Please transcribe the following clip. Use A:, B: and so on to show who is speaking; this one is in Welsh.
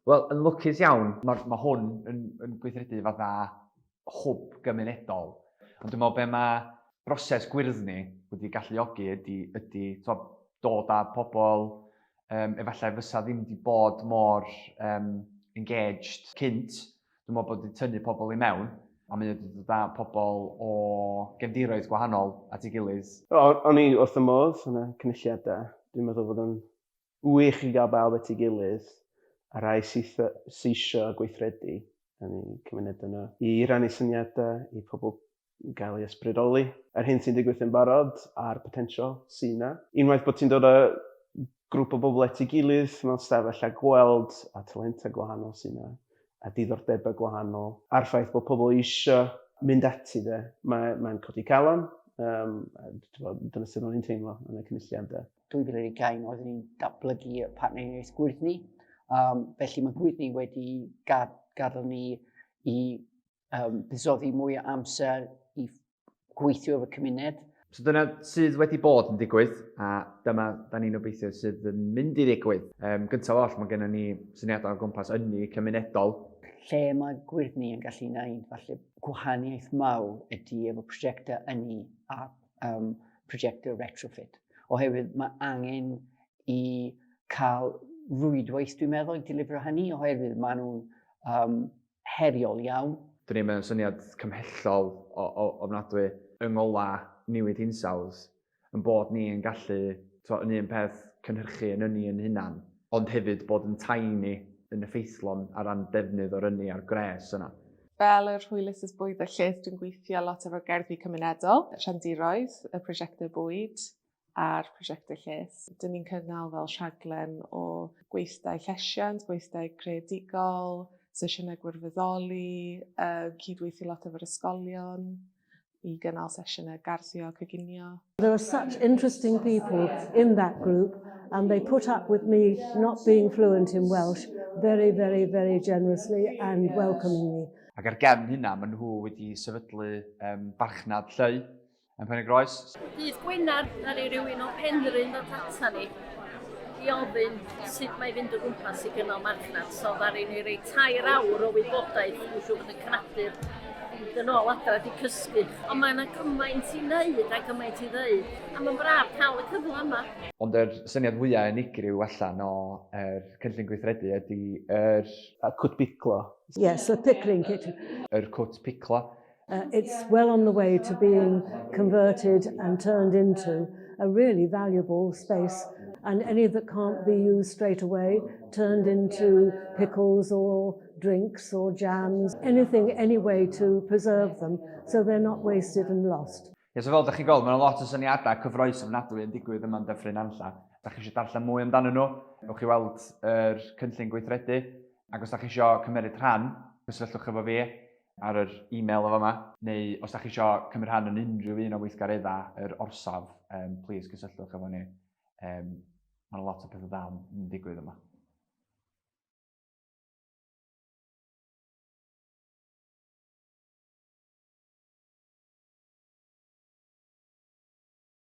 A: Wel, yn lwcus iawn, mae ma hwn yn, yn gweithredu fatha hwb gymunedol. Ond dwi'n meddwl be mae broses gwyrddni wedi galluogi ydy, ydy twod, dod â pobl um, efallai fysa ddim wedi bod mor um, engaged cynt. Dwi'n meddwl bod wedi tynnu pobl i mewn a mae wedi dod â pobl o gefndiroedd gwahanol at ei gilydd. O'n i wrth y
B: modd yn y cynulliadau. Dwi'n meddwl bod o'n Wych yn cael bawb at ei gilydd, a rhai syth seisio a gweithredu yn y cymuned yno i rannu syniadau i pobl gael ei ysbrydoli yr hyn sy'n digwydd yn barod a'r potensial sydd yna. Unwaith bod ti'n dod a grwp o bobl at ei gilydd mewn stafell a gweld a talentau gwahanol sydd yna a diddordebau gwahanol a'r ffaith bod pobl eisiau mynd ati de, mae'n codi calon, dyna sut ro'n i'n teimlo yn y cynulliad de. 2020 oeddwn
C: ni'n datblygu y partneriaeth gwyrdd ni. Um, felly mae gwyrdd ni wedi gad, gadael ni i um, buddsoddi mwy o amser i gweithio efo cymuned. So dyna sydd
A: wedi bod yn digwydd, a dyma da ni'n obeithio sydd yn mynd i ddigwydd. Um, gyntaf oll, mae gennym ni syniadau o gwmpas ynni cymunedol. Lle mae
C: gwyrdd ni yn gallu gwneud falle gwahaniaeth mawr ydy efo prosiectau ynni a um, projectau retrofit. Oherwydd mae angen i cael rwydwaith, dwi'n meddwl, i delifro hynny, oherwydd maen nhw'n um, heriol iawn. Dyn ni'n mewn syniad
A: cymhellol o, o, ofnadwy yng ngola newid hinsawdd, yn bod ni yn gallu, to, yn un peth, cynhyrchu yn ynni yn hunan, ond hefyd bod yn tiny yn effeithlon ar ran defnydd o'r ynni a'r gres yna. Fel yr hwylus
D: is bwyd a lles, dwi'n gweithio lot efo gerddi cymunedol, rhandiroedd, y prosiectau bwyd a'r prosiectau lles. Dyn ni'n cynnal fel rhaglen o gweithdai llesiant, gweithdai creadigol, sesiynau gwirfoddoli, uh, cydweithio lot efo'r ysgolion, i gynnal sesiynau garddio a coginio. There are such
E: interesting people in that group and they put up with me not being fluent in Welsh very, very, very generously and welcomingly. Ac ar gefn
A: hynna, maen nhw wedi sefydlu um, barchnad lleu yn Pen-y-groes. Bydd Gwynarth
F: ar ei rywun o Penrhyn ddod ata ni. i ofyn sut mae fynd o gwmpas i gynnal marchnad. So ddaru ni rei tair awr o wybodaeth i siw bod yn cnadur fynd yn ôl adra di cysgu. Ond mae yna gymaint i wneud a gymaint i ddeud. A mae'n braf cael y cyfle yma. Ond yr syniad
A: fwyaf unigryw allan o yr cynllun gweithredu ydy yr... Cwt
B: Piclo. Yes, y pickling
E: kitchen. Yr cwt piclo.
A: Uh, it's well
E: on the way to being converted and turned into a really valuable space and any that can't be used straight away turned into pickles or drinks or jams, anything, any way to preserve them so they're not wasted and lost. Ie, so fel ydych chi'n gweld, mae'n
A: lot o syniadau cyffroes ofnadwy yn digwydd yma'n dyffryn anlla. Os da chi eisiau darllen mwy amdanyn nhw, ewch i weld yr er cynllun gweithredu, ac os da chi eisiau cymeriad rhan, cysylltwch efo fi. ar yr e-mail yn fama, neu os da chi isio cymryd rhan yn unrhyw un o weithgareddau yr orsaf, um, please cysylltwch efo ni. Um, Mae'n lot o pethau da yn digwydd yma.